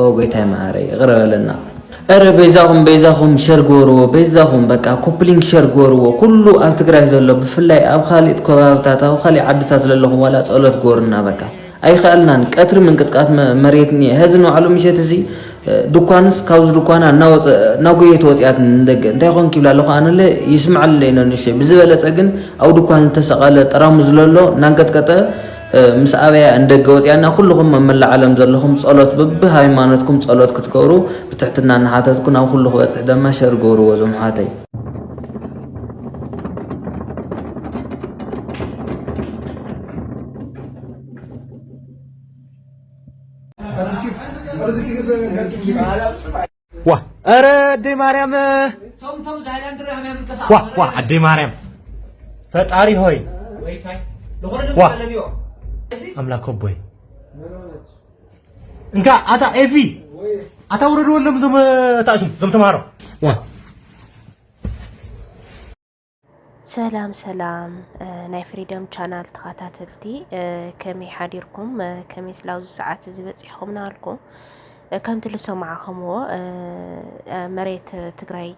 ኦው ጎይታይ መዓረይ ይቅረ በለና እረ በይዛኹም በይዛኹም ሸር ግበርዎ በይዛኹም በቃ ኮፕሊንግ ሸር ግበርዎ ኩሉ ኣብ ትግራይ ዘሎ ብፍላይ ኣብ ካሊእ ከባብታት ኣብ ካሊእ ዓድታት ዘለኹም ዋላ ጸሎት ግበሩና በቃ ኣይከኣልናን ቀትሪ ምንቅጥቃት መሬት እኒአ ሀዚ ንባዕሉ ምሸት እዚ ድኳንስ ካብዚ ድኳና እናወፀ እናጎየት ወፅያት ንደገ እንታይ ኮን ኪብላ ኣለኹ ኣነለ ይስምዓለይ ነንሸ ብዝበለፀ ግን ኣብ ድኳን ዝተሰቐለ ጠራሙ ዝለሎ እናንቀጥቀጠ ምስ ኣበያ ንደገ ወጺኣ እና ኩሉኹም ኣብ መላእ ዓለም ዘለኹም ጸሎት በቢ ሃይማኖትኩም ጸሎት ክትገብሩ ብትሕትና እናሓተትኩ ናብ ኩሉ ክበጽሕ ደማ ሸር ግበርዎ እዞም ኣሕዋተይ። ዋ ኧረ ኣደይ ማርያም ዋ ዋ ኣደይ ማርያም ፈጣሪ ሆይ ዋ ኣምላክ ኣቦይ እንካ ኣታ ኤፊ ኣታ ውረድወሎም እዞም ታእሽም እዞም ተምሃሮ ዋ ሰላም ሰላም ናይ ፍሪደም ቻናል ተኸታተልቲ ከመይ ሓዲርኩም ከመይ ስላብዚ ሰዓት እዚ በፂሕኹም ናልኩ ከምቲ ዝሰማዕኹምዎ መሬት ትግራይ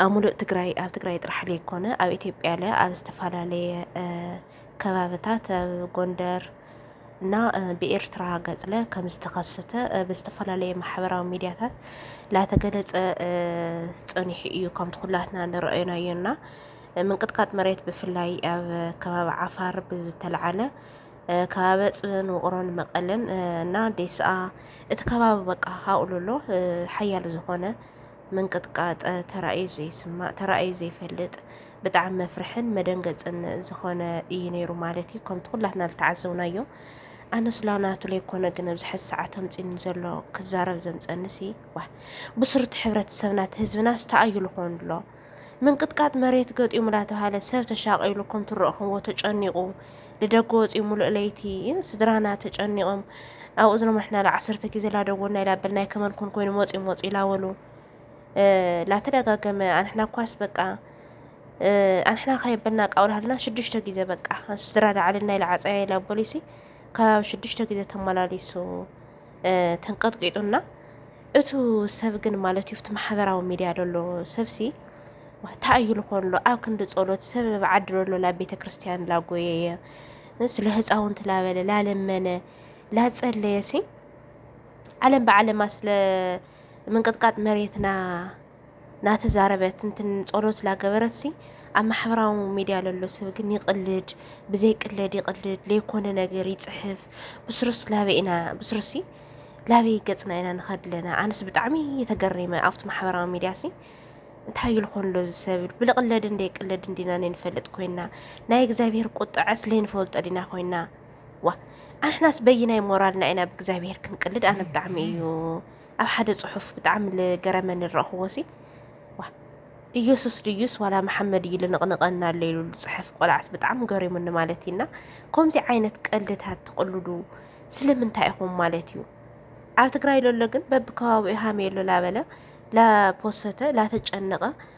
ኣብ ሙሉእ ትግራይ ኣብ ትግራይ ጥራሕ ዘይኮነ ኣብ ኢትዮጵያ ለ ኣብ ዝተፈላለየ ከባብታት ኣብ ጎንደር እና ብኤርትራ ገጽለ ከም ዝተኸሰተ ብዝተፈላለየ ማሕበራዊ ሚዲያታት ላተገለጸ ጸኒሑ እዩ ከምቲ ኩላትና ንረኣዮናዮ እና ምንቅጥቃጥ መሬት ብፍላይ ኣብ ከባቢ ዓፋር ብዝተለዓለ ከባቢ ጽን ውቕሮን መቐለን እና ዴስኣ እቲ ከባቢ በቃ ሃኡሉሎ ሓያል ዝኾነ ምንቅጥቃጥ ተራእዩ ዘይስማእ ተራእዩ ዘይፈልጥ ብጣዕሚ መፍርሕን መደንገጽን ዝኾነ እዩ ነይሩ ማለት እዩ ከምቲ ኩላትና ዝተዓዘብናዮ ኣነ ስላ ናቱ ለይኮነ ግን ኣብዚ ሕዚ ሰዓት ኣምፂኒ ዘሎ ክዛረብ ዘምፀኒ ሲ ዋ ብስሩቲ ሕብረተሰብና እቲ ህዝብና ዝተኣዩ ዝኾኑ ኣሎ ምንቅጥቃጥ መሬት ገጢሙ ላተባሃለ ሰብ ተሻቂሉ ከም ትረእኹምዎ ተጨኒቑ ልደገ ወፂኡ ሙሉእ ለይቲ ስድራና ተጨኒቖም ኣብኡ ዝነማሕና ላ ዓሰርተ ግዜ ላደወልና ኢላበልና ከመን ኮን ኮይኑ መፂኡ መፂኡ ኢላበሉ ላተደጋገመ ኣንሕና ኳስ በቃ ኣንሕና ከየበልና ቃውላህልና ሽዱሽተ ግዜ በቃ ስድራ ዳዕልን ናይ ለዓፀያ ኢላ ቦሊሲ ከባቢ ሽዱሽተ ግዜ ተመላሊሱ ተንቀጥቂጡና እቱ ሰብ ግን ማለት እዩ ቲ ማሕበራዊ ሚድያ ደሎ ሰብሲ እንታይ እዩ ዝኾን ሎ ኣብ ክንዲ ጸሎት ሰብ ዓዲ ደሎ ላብ ቤተ ክርስትያን ላጎየየ ስለ ህፃውንቲ ላበለ ላለመነ ላጸለየሲ ዓለም ብዓለማ ስለ ምንቅጥቃጥ መሬት ና ናተዛረበት እንትን ጸሎት ላገበረት ሲ ኣብ ማሕበራዊ ሚድያ ለሎ ሰብ ግን ይቕልድ ብዘይ ቅለድ ይቕልድ ለይኮነ ነገር ይፅሕፍ ብስሩስ ላበይ ኢና ብስሩሲ ላበይ ገፅና ኢና ንኸድ ኣለና ኣነስ ብጣዕሚ የተገሪመ ኣብቲ ማሕበራዊ ሚድያ ሲ እንታይ እዩ ልኾን ሎ ዝሰብል ብልቕለድ እንደ ቅለድ እንዲና ነንፈልጥ ኮይና ናይ እግዚኣብሔር ቁጥዐ ስለይንፈልጦ ዲና ኮይና ዋእ ኣንሕናስ በይናይ ሞራልና ኢና ብእግዚኣብሄር ክንቅልድ ኣነ ብጣዕሚ እዩ ኣብ ሓደ ጽሑፍ ብጣዕሚ ዝገረመኒ ዝረእኽዎሲ ዋ ኢየሱስ ድዩስ ዋላ መሓመድ እዩ ልንቕንቐና ኣሎ ኢሉ ዝጽሕፍ ቆልዓስ ብጣዕሚ ገሪሙኒ ማለት እዩና ከምዚ ዓይነት ቀልድታት ትቕልዱ ስለምንታይ ኢኹም ማለት እዩ ኣብ ትግራይ ለሎ ግን በብከባቢኡ ሃሜ ኣሎ ላበለ ላፖሰተ ላተጨነቐ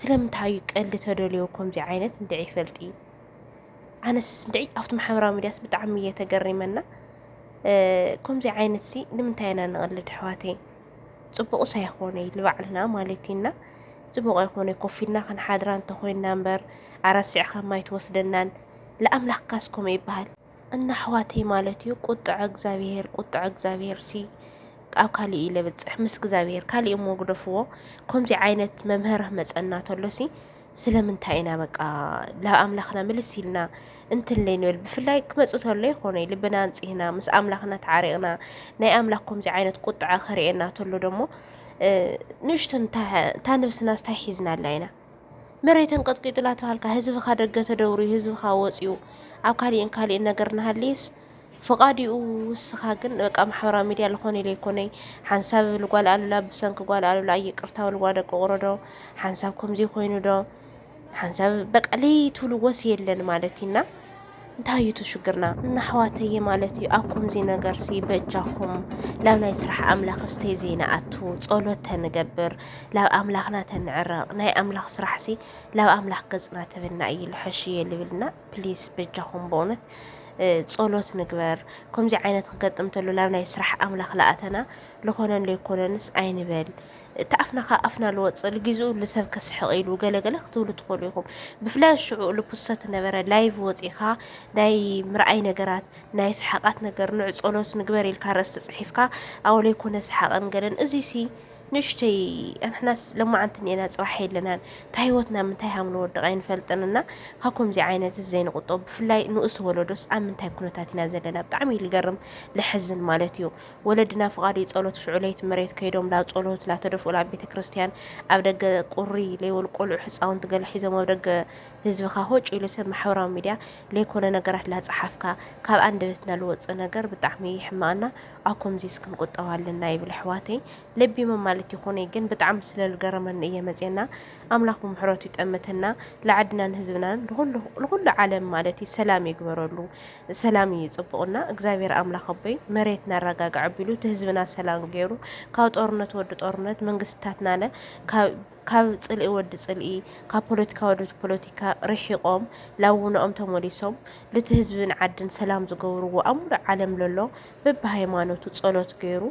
ስለምንታይ እዩ ቀልዲ ተደልዮ ከምዚ ዓይነት እንድዒ ይፈልጢ ኣነስ እንድዒ ኣብቲ ማሕበራዊ ሚድያስ ብጣዕሚ እየ ተገሪመና ከምዚ ዓይነት ሲ ንምንታይ ኢና ንቐልድ ኣሕዋተይ ፅቡቕስ ኣይኾነ እዩ ንባዕልና ማለት እዩና ፅቡቕ ኣይኮነ ኮፍ ኢልና ክንሓድራ እንተኾይንና እምበር ኣረሲዕኻ ማይ ትወስደናን ለኣምላኽካስ ከምኡ ይበሃል እና ኣሕዋተይ ማለት እዩ ቁጥዐ እግዚኣብሄር ቁጥዐ እግዚኣብሄር ሲ ኣብ ካሊእ እዩ ለብፅሕ ምስ እግዚኣብሄር ካሊእ እሞ ግደፍዎ ከምዚ ዓይነት መምህር መፀና ተሎ ሲ ስለምንታይ ኢና በቃ ናብ ኣምላኽና ምልስ ኢልና እንትንለይ ንብል ብፍላይ ክመፅ ተሎ ይኾነ ልብና ኣንፂህና ምስ ኣምላኽና ተዓሪቕና ናይ ኣምላኽ ከምዚ ዓይነት ቁጥዐ ክርእየና ተሎ ደሞ ንእሽቶ እታ ነብስና ስታይ ሒዝናላ ኢና መሬት ኣንቀጥቂጡ ናተባሃልካ ህዝብኻ ደገ ተደውርዩ ህዝብኻ ወፅዩ ኣብ ካሊእን ካሊእን ነገር ናሃልይስ ፍቓድኡ ውስኻ ግን በቃ ማሕበራዊ ሚዲያ ልኾነ ኢለ ይኮነይ ሓንሳብ ብል ጓል ኣሉላ ብሰንኪ ጓል ኣሉላ ኣይቅርታ ውልዋ ደቂ ቁሮዶ ሓንሳብ ከምዚ ኮይኑ ዶ ሓንሳብ በቃ ለይትብልዎስ የለን ማለት እዩና እንታይ እዩ እቲ ሽግርና እናሕዋተየ ማለት እዩ ኣብ ከምዚ ነገርሲ በጃኹም ላብ ናይ ስራሕ ኣምላኽ ስተይ ዘይንኣቱ ጸሎት ተንገብር ላብ ኣምላኽና ተንዕረቕ ናይ ኣምላኽ ስራሕሲ ላብ ኣምላኽ ገጽና ተበና እዩ ልሐሽ እየ ልብልና ፕሊስ በጃኹም በእውነት ጸሎት ንግበር ከምዚ ዓይነት ክገጥም ተሎ ላብ ናይ ስራሕ ኣምላኽ ለኣተና ልኾነን ለይኮነንስ ኣይንበል እቲ ኣፍና ካብ ኣፍና ልወጽእ ልጊዝኡ ንሰብ ከስሕቕ ኢሉ ገለ ገለ ክትብሉ ትኽእሉ ኢኹም። ብፍላይ ሽዑ ልፕሰት ነበረ ላይቭ ወጺእካ ናይ ምርኣይ ነገራት ናይ ሰሓቓት ነገር ንዑ ጸሎት ንግበር ኢልካ ኣርእስቲ ጽሒፍካ ኣብኡ ለይኮነ ሰሓቕን ገለን እዚሲ ንእሽተይ ኣንሕናስ ለማዓንቲ እኒኤና ጽባሕ የለናን እታ ሂወትና ኣብ ምንታይ ሃም ልወድቕ ኣይንፈልጥን እና ካብ ከምዚ ዓይነት እዚ ዘይንቑጠብ ብፍላይ ንኡስ ወለዶስ ኣብ ምንታይ ኩነታት ኢና ዘለና ብጣዕሚ እዩ ልገርም ለሕዝን ማለት እዩ። ወለድና ፍቓድይ ጸሎት ሽዑ ለይቲ መሬት ከይዶም ላብ ጸሎት ላተደፍኡ ላብ ቤተ ክርስትያን ኣብ ደገ ቁሪ ለይበሉ ቆልዑ ሕጻውንቲ ገለ ሒዞም ኣብ ደገ ህዝብኻ ሆጭ ኢሉ ሰብ ማሕበራዊ ሚድያ ለይኮነ ነገራት ላጸሓፍካ ካብ ኣንደበትና ልወጽእ ነገር ብጣዕሚ ይሕመቀና ኣብ ኮምዚስ ክንቁጠብ ኣለና ይብል ኣሕዋተይ ለቢሞም ማለት ይኹነይ ግን ብጣዕሚ ስለ ልገረመኒ እየ መጽየና ኣምላኽ ብምሕረቱ ይጠምተና ልዓድናን ህዝብናን ልኹሉ ዓለም ማለት እዩ ሰላም ይግበረሉ ሰላም እዩ ፅቡቅና እግዚኣብሔር ኣምላክ ኣቦይ መሬት ናራጋግዕ ኣቢሉ ትህዝብና ሰላም ገይሩ ካብ ጦርነት ወዲ ጦርነት መንግስትታትናለ ካብ ፅልኢ ወዲ ፅልኢ ካብ ፖለቲካ ወዲ ፖለቲካ ርሒቆም ላውነኦም ተመሊሶም ልቲ ህዝብን ዓድን ሰላም ዝገብርዎ ኣብ ሙሉእ ዓለም ለሎ በቢ ሃይማኖቱ ፀሎት ገይሩ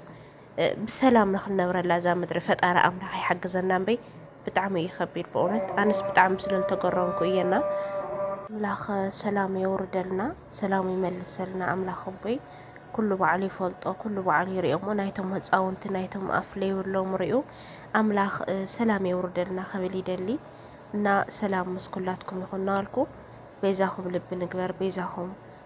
ብሰላም ንክንነብረላ እዛ ምድሪ ፈጣሪ ኣምላክ ይሓግዘና እምበይ ብጣዕሚ እዩ ከቢድ በእውነት ኣነስ ብጣዕሚ ስለልተገረምኩ እየ እና። ኣምላክ ሰላሙ የውርደልና ሰላሙ ይመልሰልና ኣምላክ ኣቦይ ኩሉ ባዕሉ ይፈልጦ ኩሉ ባዕሉ ይሪኦ እሞ ናይቶም ህፃውንቲ ናይቶም ኣፍ ለይብሎም ሪኡ ኣምላክ ሰላም የውርደልና ክብል ይደሊ እና ሰላም ምስ ኩላትኩም ይኹን እናበልኩ በይዛኹም ልቢ ንግበር በይዛኹም